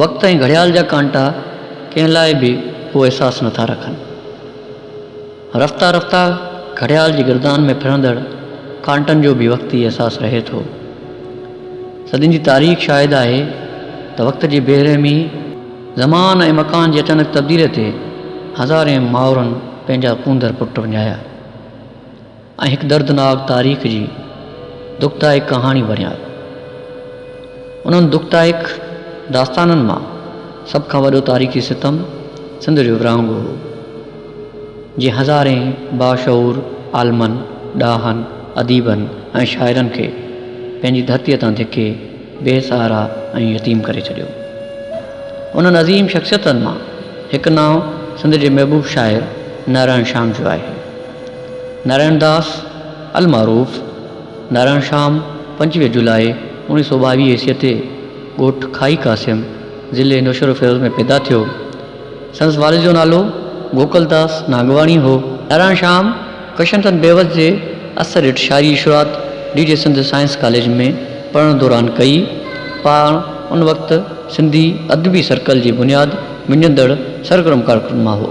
وقت ۽ گهڙيال جا ڪانٽا ڪنهن لاء به اهو احساس نٿا رکن. رفته رفته گهڙيال جي گردان ۾ ڦرندڙ ڪانٽن جو بيوقتي احساس رهي ٿو. صدين جي تاريخ شاهد آهي ته وقت جي بي رحمي، زمان ۽ مڪان جي اچانڪ تبديلي تي هزارين مائرن پنهنجا ڪونڌر پٽ وڃايا. ۽ هڪ دردناڪ تاريخ جي دکدائڪ ڪهاڻي بڻيا. انهن دکدائڪ داستانن مان سڀ کان وڏو تاريخي ستم سنڌ جو ورهاڱو هو، جنهن هزارين باشعور عالمن، ڏاهن، اديبن ۽ شاعرن کي پنهنجي ڌرتيء تان ڌڪي، بي سهارا ۽ يتيم ڪري ڇڏيو. انهن عظيم شخصيتن مان هڪ نانء سنڌ جي محبوب شاعر نارائڻ شام جو آهي. نارائڻ داس المعروف نارائڻ شام پنجويهه جولاء اوڻيهه سؤ ٻاويهه عيسويء تي ڳوٺ کاهي قاسم، ضلعي نوشهروفيروز ۾ پيدا ٿيو. سندس والد جو نالو گوڪل داس نانگواڻي هو. نارائڻ شام ڪشنتن بيوس جي اثر هيٺ شاعري شروعات D J Sindh science college ۾ پڙهڻ دوران ڪئي. پاڻ ان وقت سنڌي ادبي سرڪل جي بنياد وڃندڙ سرگرم ڪارڪنن مان هو.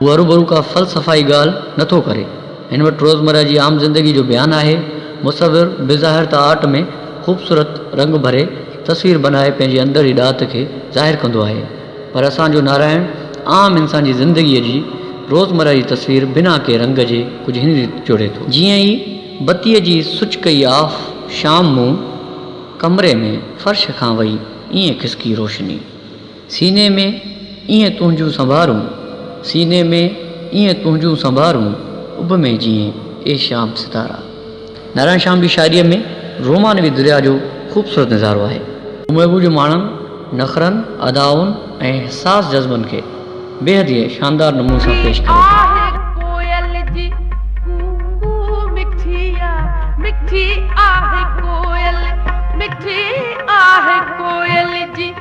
هو هروڀرو ڪا فلسفائي ڳالهه نه ٿو ڪري. هن وٽ روزمره جي عام زندگي جو بيان آهي. مصور بظاهر ته آرٽ ۾ خوبصورت رنگ ڀري تصوير بنائي پنهنجي اندر جي ڏات کي ظاهر ڪندو آهي. پر اسان جو نارائڻ عام انسان جي زندگيء جي روزمره جي تصوير بنا ڪنهن رنگ جي ڪجهه هن ريت جوڙي ٿو. جيئن ئي بتيء جي سئچ ڪئي آف شام مون ڪمري ۾ فرش کان وئي ائين کسڪي روشني. سيني ۾ ايئن تنهنجون سنبارون، سيني ۾ ايئن تنهنجون سنبارون، اڀ ۾ جيئين اي شيام ستارا. نارائڻ شيام جي شاعريء ۾ رومانوي درياء جو خوبصورت نظارو آهي. هو محبوب جي ماڻن، نخرن، ادائن ۽ حساس جذبن کي بيحد ئي شاندار نموني سان پيش ڪري ٿو. آهه ڪوئل جي ڪوڪو مٺي آ مٺي آهه ڪوئل مٺي آهه ڪوئل جي.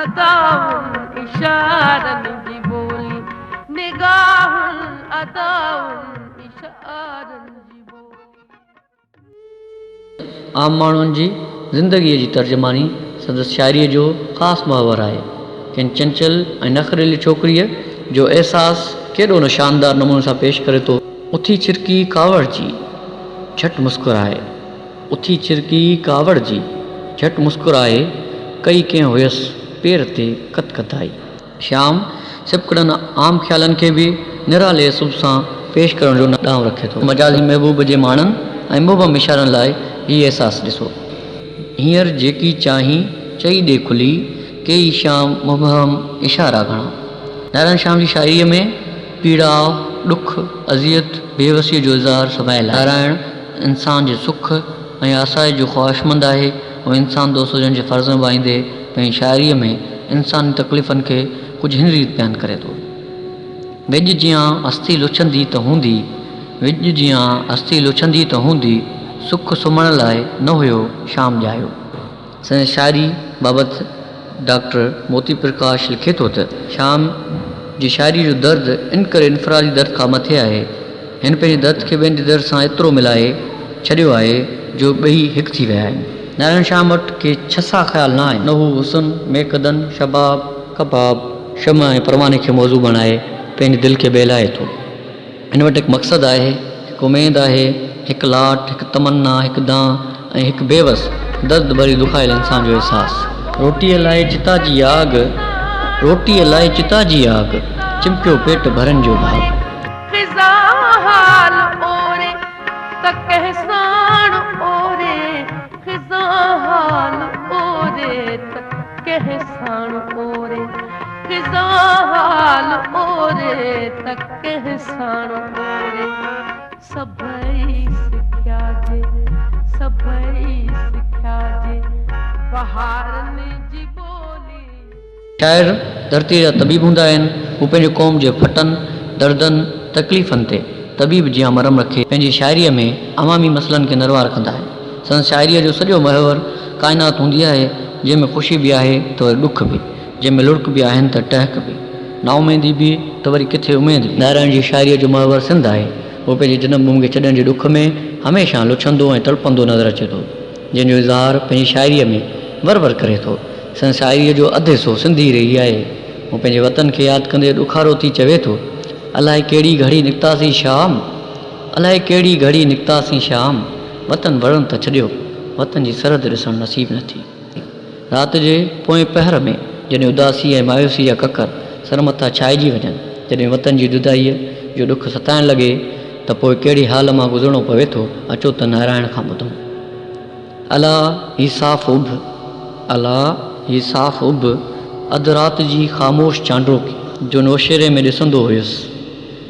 ادائن اشارن جي ٻولي نگاهن ادائن اشارن جي ٻولي. عام ماڻهن جي زندگيء جي ترجماني سندس شاعريء جو خاص محور آهي. ڪنهن چنچل ۽ نخريلي ڇوڪريء جو احساس ڪيڏو نه شاندار نموني سان پيش ڪري ٿو. اٿي ڇرڪي ڪاوڙجي جهٽ مسڪرائي. اٿي چرڪي ڪاوڙ جي، جهٽ مسڪرائي، ڪئي ڪنهن هيس پير تي ڪت ڪتائي. شيام سبڪڙن عام خيالن کي به نرالي اسلوب سان پيش ڪرڻ جو ڏانء رکي ٿو. مجازي محبوب جي ماڻڻ ۽ مبهم اشارن لاء هي احساس ڏسو. هينئر جيڪي چاهين، چئي ڏي کلي، ڪيئي شيام مبهم اشارا گهڻا. نارائڻ شيام جي شاعريء ۾ پيڙاء، ڏک، اذيت، بيوسيء جو اظهار سڀائيل آهي. نارائڻ انسان جي سک ۽ آسائش جو خواهشمند آهي ۽ انسان دوست هجڻ جي فرض نڀائيندي پنهنجي شاعريء ۾ انساني تڪليفن کي ڪجهه هن ريت بيان ڪري ٿو، ويڄ جيان هستي لڇندي ته هوندي، ويڄ جيان هستي لڇندي ته هوندي، سک سمهڻ لاء نه هيو شام ڄايو. سندس شاعري بابت ڊاڪٽر موتي پرڪاش لکي ٿو ته، شيام جي شاعري جو درد ان ڪري انفرادي درد کان مٿي آهي. هن پنهنجي درد کي ٻين جي درد سان ايترو ملائي ڇڏيو آهي جو ٻئي هڪ ٿي ويا آهن. نارائڻ شيام وٽ ڪي ڇسا خيال نه آهن. نه هو حسن، ميقدن، شباب، ڪباب، شمع ۽ پرواني کي موضوع بڻائي پنهنجي دل کي بهلائي ٿو. هن وٽ هڪ مقصد آهي، هڪ اميد آهي، هڪ لاٽ، هڪ تمنا، هڪ دانهن ۽ هڪ بيوس، درد ڀري دکايل انسان جو احساس. روٽيء لاء چتا جي آڳ، روٽيء لاء چتا جي آڳ، چمڪيو پيٽ ڀرن جو ڀاڳ. فضا حال اوري ته ڪنهن ساڻ اوري، فضا حال اوري ته ڪنهن ساڻ اوري. خزان حال اوري ته ڪنهن ساڻ اوري سڀئي سکيا جي سڀئي سکيا جي بهارن جي ٻولي. شاعر ڌرتيء جا طبيب هوندا آهن، هو پنهنجي قوم جي ڦٽن، دردن، تڪليفن تي طبيب جيان مرهم رکي، پنهنجي شاعريء ۾ عوامي مسئلن کي نروار ڪندا آهن، سندس شاعريء جو سڄو محور ڪائنات هوندي آهي، جنهن ۾ خوشي به آهي ته وري ڏک به، جنهن ۾ لڙڪ به آهن ته ٽهڪ به. نااميدي به ته وري ڪٿي اميد به. نارائڻ جي شاعريء جو محور سنڌ آهي. هو پنهنجي جنم ڀومي کي ڇڏڻ جي ڏک ۾ هميشه لڇندو ۽ تڙپندو نظر اچي ٿو، جنهن جو اظهار پنهنجي شاعريء ۾ ور ور ڪري ٿو. سندس شاعريء جو اڌ حصو سنڌي ئي رهي آهي. هو پنهنجي وطن کي ياد ڪندي ڏکارو ٿي چوي ٿو، الائي ڪهڙي گهڙي نڪتاسين شام، الائي ڪهڙي گهڙي نڪتاسين شام، وطن وڙهڻ ته ڇڏيو، وطن جي سرحد ڏسڻ نصيب نه ٿي. رات جي پوئين پهر ۾ جڏهن اداسي ۽ مايوسي جا ڪڪر سر مٿان ڇائجي وڃن، جڏهن وطن جي جدائيء جو ڏک ستائڻ لڳي ته پوء ڪهڙي حال مان گذرڻو پوي ٿو، اچو ته نارائڻ کان ٻڌون. الا هي صاف اڀ، الا هي صاف اڀ، اڌ رات جي خاموش چانڊوڪي، جو نوشيري ۾ ڏسندو هيس.